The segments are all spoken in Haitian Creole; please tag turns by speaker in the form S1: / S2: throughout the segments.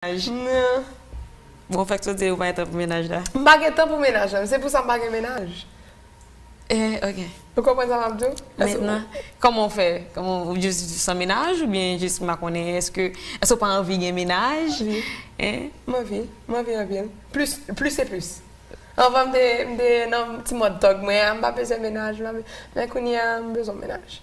S1: mennaj nan.
S2: Bon fèk sou di ou pa gen tan pou mennaj la. M pa gen tan pou mennaj
S1: la. Se pou sa m pa gen mennaj. Eh
S2: ok. Ou konprann sa
S1: m ap di w? Mentnan,
S2: kòman ou fè? Kòman ou jis san mennaj oubyen jis m pa konnen eske eske ou pa anvi gen mennaj? Anvi. Eh?
S1: M anvi.
S2: M anvi
S1: anpil. Plis plis se plis. Anvan m te m te nan ti mòd tòg mwen an m pa bezwen mennaj. Men kounye a m bezwen mennaj.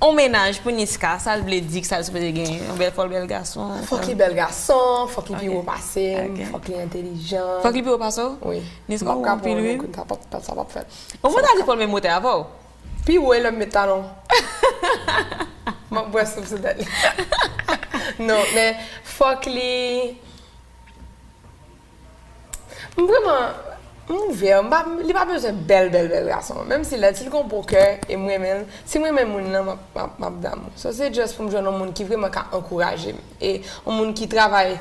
S2: On mennaj pou Niska sal vle di kisal sipoze genyen yon bèl fòl bèl gason Fòk li bèl gason
S1: fòk li pi wo pasem fòk li entelijan Fòk li pi wo pase w? Wi
S2: Niska ou wo
S1: anpil wi
S2: Sa pap fèt
S1: Ou pata di fòl menm wotè
S2: avè w? Pi wo e lèm
S1: met talon Map bwè soup sou tèt li Non men fòk li. M vreman m ouvè m pa li pa bezwen bèl bèl bèl gason menm si lèd si l gon bon kè e m renmen l si m renmen moun nan m ap damou so se just pou m jwenn yon moun ki vreman ka ankouraje m e yon moun ki travay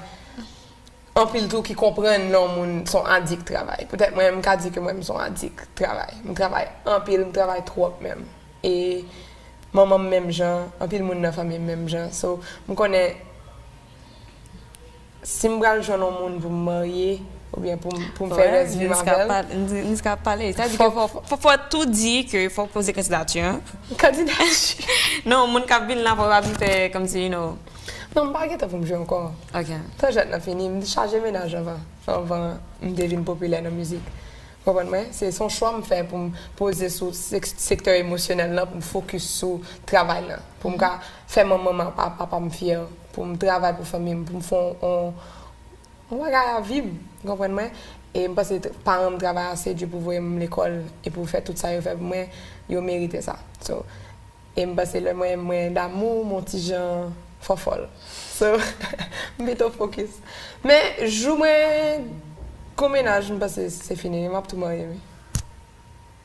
S1: anpil tou ki konprann lè yon moun s on adik travay poutèt mwen m ka di ke mwen m s on adik travay m travay anpil m travay twòp menm e manman m menm jan anpil moun nan fanmi m menm jan so m konnen. Si m pral jwenn yon moun pou m marye oubyen pou m fè rès vi m avè l. Niska ap
S2: pale. Sa di ke fòk ou tou di ke fòk ou poze kandidati an. Kandidati?
S1: Non, moun k
S2: ap vin la fòk yo pa vin fè kòmsi you know. Non, m pa
S1: gen tan pou m jwe ankò. Ok. Tan jwèt lan
S2: fini.
S1: M te chaje menaj anvan. Anvan m te vin popilè nan mizik. Ou konprann mwen? Se yon chwa m fè pou m poze sou sektè emosyonèl lan pou m fokis sou travay lan. Pou m ka fè manman m ak papa m fyè. pou m travay pou fanmi m, pou m fè yon bagay a vi m, ou konprann mwen? E m panse paran m travay ase di pou voye m lekòl e pou fè tout sa yo fè pou mwen, yo merite sa. So, e m panse lè mwen mwen damou m yon ti jan fòfòl. So, m pito fokis. Men, jou mwen gon mennaj m panse se fini, m ap tou marye wi.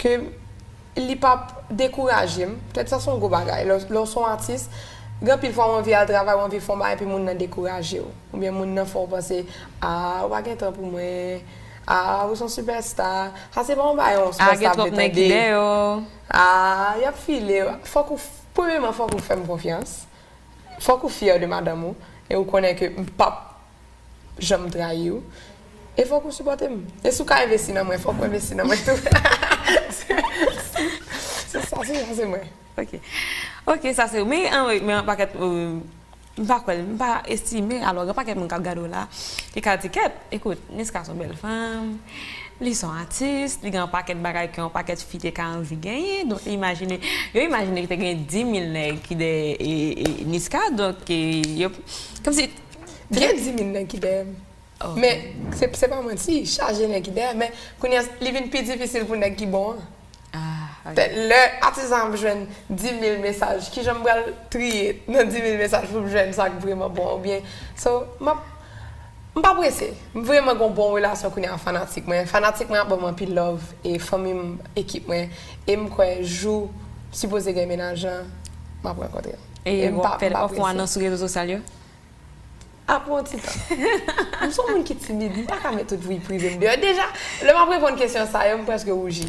S1: Ke li pa p dekouraje m. Pètèt sa se yon gwo bagay. Lè w lè w se yon atis, gen anpil fwa w anvi al travay, w anvi fè yon bagay epi moun nan dekouraje w. Oubyen moun nan fè w panse, a ou pa gen tan pou mwen, a ou se yon sipèsta. Sa se pa yon bagay yon sipèsta ap vle tande. A gen twòp nèg ki deyò.
S2: A
S1: y ap file w. Fòk ou premyeman fòk ou fè m konfyans. Fòk ou fyè de madanm ou e ou konnen ke m pa p janm trayiw e fòk ou sipòtem e si ou ka envesti nan mwen fòk ou envesti nan mwen tou se sa se sa se mwen ok ok
S2: sa se men yon pakèt m pa kwèl m pa estime alò gen pakèt moun kap gadew la ki ka di kèt ekout Niska son bèl fanm li son atis li gen yon pakèt bagay ke yon pakèt fi te ka anvi genyen donk imajine yo imajine te gen 10000 nèg ki dèyè Niska donk yo kòmsi. Gen 10000 nèg
S1: ki dèyè m. Men, se pa manti, chaje nèg ki dèyè m. Men, kounye a, li vin pi difisil pou nèg ki bon an. Lè atis lan ap jwenn 10000 mesaj, ki jan m pral triye nan 10000 mesaj pou m jwenn sa k vreman bon an? Oubyen, so, m ap, m pa prese. M vreman gen yon bon relasyon kounye a ak fanatik mwen. Fanatik mwen ap ban m anpil love, e fanmi m, ekip mwen. E m kwè jou m sipoze gen mennaj lan, m ap rankontre l. E wap fè l
S2: ofwa nan sou rezo sosyal yo? A
S1: pou yon ti tan. M son moun ki timid, m pa ka met tout vi prive m deyò. Deja, lè map reponn kesyon sa yo, m preske wouji.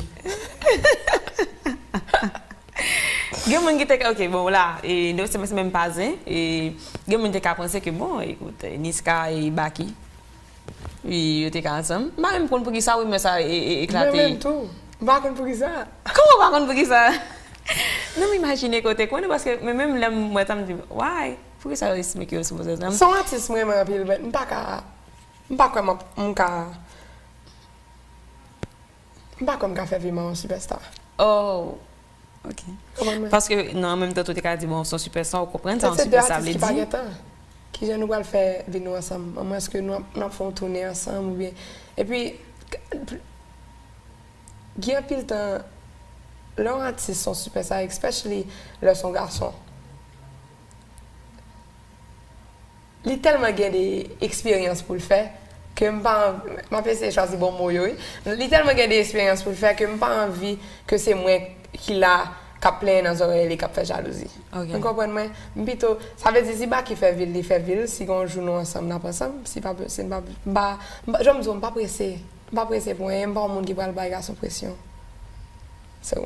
S2: Gen moun ki te ka, ok, bon w la, e nou se menm pa zen, e gen moun te ka panse ke bon, ekout, Niska e Baky. Ui yo te ka ansanm. M pa menm konn poukisa rimè sa eklate. Mwen menm tou. M pa
S1: konn poukisa. Kòman w pa konn poukisa?
S2: Non m imajine ke w te konnen paske mwen menm lè m wè sa m di why? Poukisa yo estimike yo sou Moses nan? Se yon atis m renmen anpil
S1: but m pa ka, m pa kwè m ka. M pa kwè m ka fè Vima yon sipèsta. Oh!
S2: Ok. Konprann mwen? Paske, nan an menm tan tou te ka di bon, son sipèsta, ou konprann sa yon sipèsta vle di? Se 2 atis ki pa gen tan. Kijan
S1: nou pral fè vi nou ansanm? A mwens ke nou ap fè yon toune ansanm oubyen. Epi, gen anpil tan, lè yon atis son sipèsta, especially lè son gason. Li tèlman gen de eksperyans pou l fè ke m pa anvi, m ap eseye chwazi bon mo yo wi, li tèlman gen de eksperyans pou l fè ke m pa anvi ke se mwen ki la k ap plenyen nan zòrèy li k ap fè jalouzi. Nou konprann mwen? M pito, sa vle di si Baky fè vi l, li fè vi l, si gen yon jou nou ansanm n ap ansanm, si pa posib n pa, m pa, jan m di w m pa prese, m pa prese pou anyen, m pa yon moun ki pral bay gason presyon. So.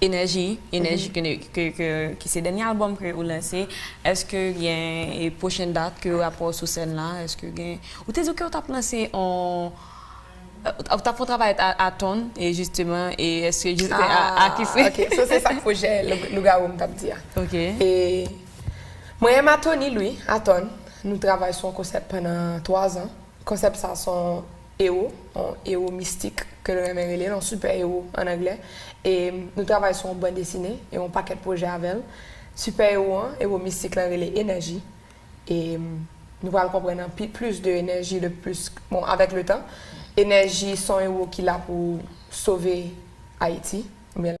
S2: Enèji, Enèji ke se dènye albòm ke ou lanse, eske gen pwochen dat ke ou ap wè w sou sèn la, eske gen, ou te di ke ou tap lanse on, ou tap fon travay ak Aton e jisteman e eske jisteman a ki se. Ah ok, so se sak pwojè
S1: Lougawou m tap di a. Ok. E mwen e Matonil wi, Aton, nou travay sou on konsèp pandan 3 zan, konsèp sa son Ewo, yon ewo mistik ke l renmen rele l, yon sipè-ewo an anglè, e nou travay sou yon bandesine e yon pakèt pwojè avè l. Sipè-ewo an, ewo mistik lan rele Enèji e nou pral konprann anpi plis de Enèji le plis, bon, avèk le tan. Enèji se yon ewo ki la pou sove Ayiti, oubyen.